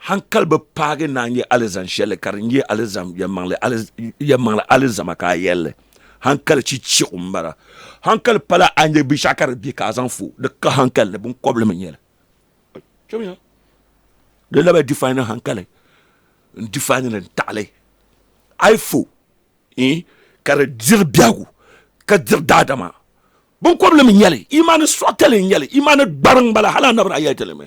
Hankali bi paagi naan yɛ alizan shɛli ka di nyɛ alizan yɛlimaŋli alizama ka a yɛli li. Hankali chichigu m-bala. Hankali pala a ni nyɛ binshɛɣu ka di be ka a zaŋ fo, di ka hankali ni biŋkɔbili mi n-nyɛ li. Di lahi define hankali n-define li n-taɣi li. A yi fo ka di diri biɛhigu ka diri daadama, biŋkɔbili mi n-nyɛ li, imaani suɣa tali n-nyɛ li, imaani gbariŋ m-bala hali a naba daa yɛli ti li mi.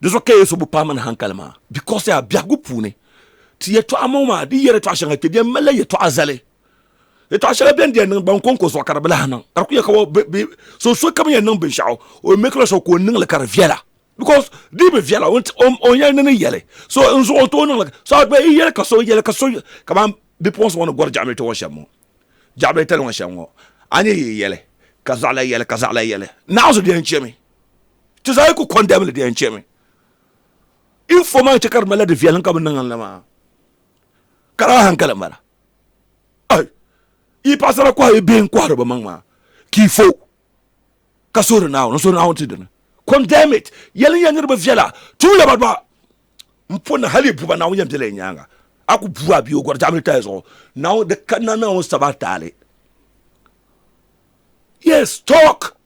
di zuɣu ka yesu bi paai mini hankali maa bikos yaa biɛhigu puuni ti yɛtɔɣa ŋɔ maa di yɛri yɛtɔɣa shɛŋa kpɛ biɛn malila yɛtɔɣa zali yɛtɔɣa shɛŋa biɛn diɛn niŋ ban konko zuɣu ka di bi lahi niŋ ka di ku yɛ ka so so kam yɛn niŋ binshaɣu o mekila so ka o niŋli ka di viɛla bikos di bi viɛla o yɛn ni ni yɛli so n zuɣu o tooi niŋli so a gba i yɛli ka so yɛli ka so kamani bipuɣunsi ŋɔ ni gɔri jaɣami ti ŋɔ shɛm ŋɔ Jɛɣibili tali ŋɔ shɛm ŋɔ, a ni yi yɛli, ka zaɣ la yɛli, ka zaɣ la yɛli, naɣizu di yɛn chɛmi. Ti zaa yi ku kɔndɛm li, di yɛn chɛmi. Info maa chɛ ka di malila di viɛlim ka bɛ niŋ n la maa. Ka di a hankali m-bala. Ai! Yi paɣisara kɔhi yi bihi n-kɔhiri bɛ maŋ maa, ka yi fo. ka suhuri naawuni n suhuri naawuni ti dini condemn it yɛli n yɛn niriba viɛla tum laba dɔɣa n po na hali buba naawuni yɛn bela yi nyaanga a ku bu a bia o gɔri jaɣamili taya zuɣu naawuni di kanna naawuni saba taali yes talk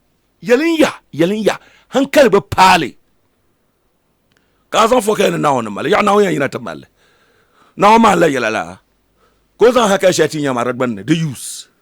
yɛli n ya yɛli n ya hankali bi paali ka a zaŋ fɔ ka yɛn ni naawuni mali yaɣa naawuni yɛn yina ti mali naawuni maa n la yɛla la ka o zaŋ hankali shɛli ti nyɛ maa di gbunni di use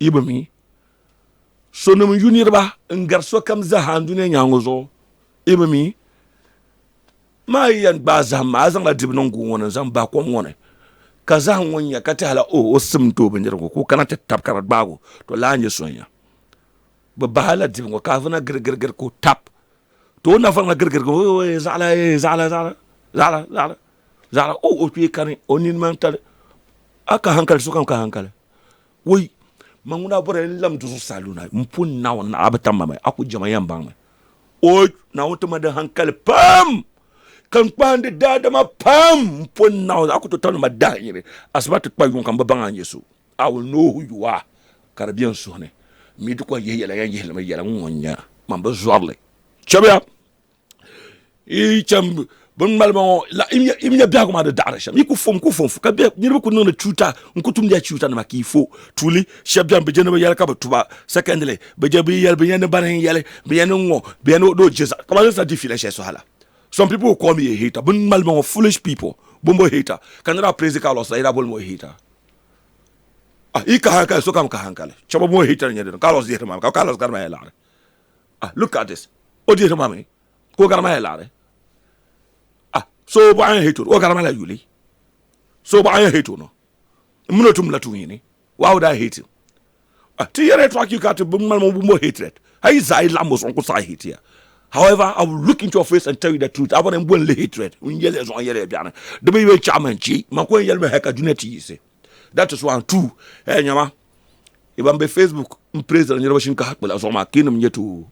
Yi bi mi sonim yu niriba n-gari sokam zaa n dunia nyaaŋa zuɣu? Yi bi mi? Maa yi yɛn gbaai zahim maa, a zaŋla dibu niŋ guŋ ŋɔ ni n-zaŋ bahi kom ŋɔ ni, ka zahim ŋɔ nya ka ti hala o, o sim n-ti o bindirigu ŋɔ ka o kana ti tab ka di gbaag o, to laa nyɛ so n-nya. Bɛ bahi la dibu ŋɔ ka avuna girigirigiri ka o tab. Too nafa ŋa girigirigiri ŋɔ, ooh, zaɣila eeh, zaɣila, zaɣila, zaɣila, zaɣila, zaɣila, ooh, o kpee kani, o nini maa n-tali. A ka haŋkali, sokam ka haŋkali. Woi, ma ŋuna a bɔrila ni n-lahi do zuɣusaa luna m pun Naawuni ni a bi tam ma mi, a ku jɛm a yɛn baŋ mi. Woi, Naawuni ti mali di haŋkali pam, ka n kpahindi daadama pam m pun Naawuni, a ku tooi tamdi ma dahinyini asiba ti kpa yuŋ ka m bi baŋ a nya so. A wul Noohu yuwa, ka di be n suhu ni, m mi di kɔŋ yihi yɛla yan yihili mi yɛla ŋun ŋɔ n-nya, man bi zɔri li. Chɛbiya! i chɛm bin ŋmali ba ŋɔ la i nya biɛhigu maa di daɣari shɛm i ku fom ku fom ka bɛ niriba ku niŋdi tuuta n ku tumdiya tuuta nima ka i fo tuuli shɛba bɛni bi je ni bi yɛli ka bi tuba secondly bi je bi yɛli bi nya ni bani n yɛli bi nya ni ŋɔ bi nya ni o je ka ba zaŋ di fiila shɛli so hala some people will call me a hater bin ŋmali ba ŋɔ foolish people bombo hater ka nira praise ka lɔs la yɛda boli mo a hater ah i ka hankali sokam ka hankali chɛba mo hater n yɛ dini ka lɔs yihiri maa ka ka lɔs gari maa yɛ laɣari ah look at this o dihiri ma mi ka o gari ma ya laɣari ah so o bɔɣa ya hate o gari ma la yuli so o bɔɣa ya hate o no n mini o tum la tuun yini why would I hate him ah ti yɛri yɛtɔɣa ki ka ti bi ŋmani mo mo hatred a yi zaɣi laɣim o zuɣu n ku saɣi hate ya however I will look into your face and tell you the truth a bɔni n boli li hatred n yɛli ya zuɣu n yɛli ya biɛɣuni di bi yɛn chaɣi man chi man ku yɛn yɛli mi hɛ ka dunia ti yiɣisi That is one two eh nyama iban be Facebook n praise niriba shinkaha kpila zuɣu maa kinim nyɛ too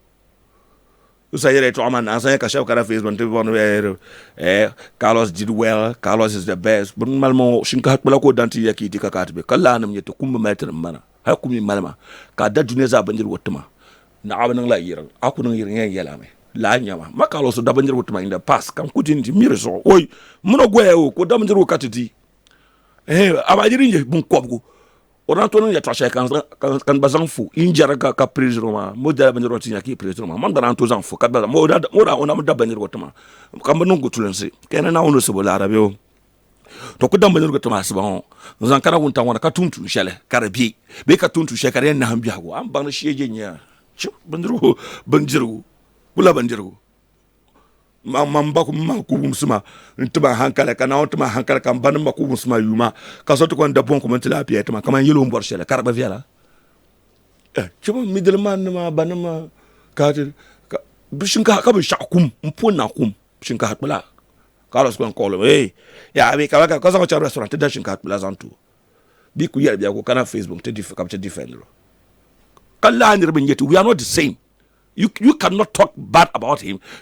Usa yɛla yɛtɔɣa maa na sanya ka shɛba kana Facebook ti bɔni eh, eh Carlos did well Carlos is the best bin malimo shinkaha kpila ko dan ti ya ki di ka ka ti be ka laa nim nyɛ ti kum bi mali ti nim bana hali kumi malima ka da duniya zaa bindirigu tima naɣa bi niŋla yirin a ku niŋ yirin yɛn yɛla mi laa nyɛma ma Carlos da bindirigu tima in the past kan ku di ni di miri zuɣu oi mino goya o ko da bindirigu ka ti di a ba yiri nyɛ bin kɔbigu o daa to niŋ yɛtɔɣa shɛli ka n gba zaŋ fo n jɛri ka ka piri zuri maa mo dala bindirigu ti nya ka i piri zuri maa man gba daa to zaŋ fo ka dala mo daa o na mi da bindirigu ti ma ka n bi niŋ gutulinsi ka yɛn na naawuni sabo laara bɛ o to ku da bindirigu ti ma asiba ŋɔ n zaŋ kana wuntaŋ ŋɔ ka tum tuun shɛli ka di bɛ bee ka tum tuun shɛli ka di yɛn naham biɛhigu a ni baŋ ni shee jɛ nyɛya bindirigu bindirigu kula bindirigu ma n ba ku ma ku wumsi ma n ti ma hankali ka naawuni ti ma hankali ka n ba ni ma ku wumsi ma yuma ka so ti kɔni da bɔŋ kɔmi ti la piɛ ti ma kamani yɛlo n bɔri shɛli ka di gba viɛla eh, chɛba midili man ni ma ba ni ma ka ti ka bi shinkaha ka binshaɣu kum n pun na kum shinkaha kpula ka alɔs kɔni kɔɣili ee eh, ya bi ka ka zaŋ chɛri restaurant ti da shinkaha kpula zaŋ tu bi ku yɛli biɛku kana facebook ti ka bi ti defend lo ka lahi niriba n yɛ ti we are not the same You, you cannot talk bad about him.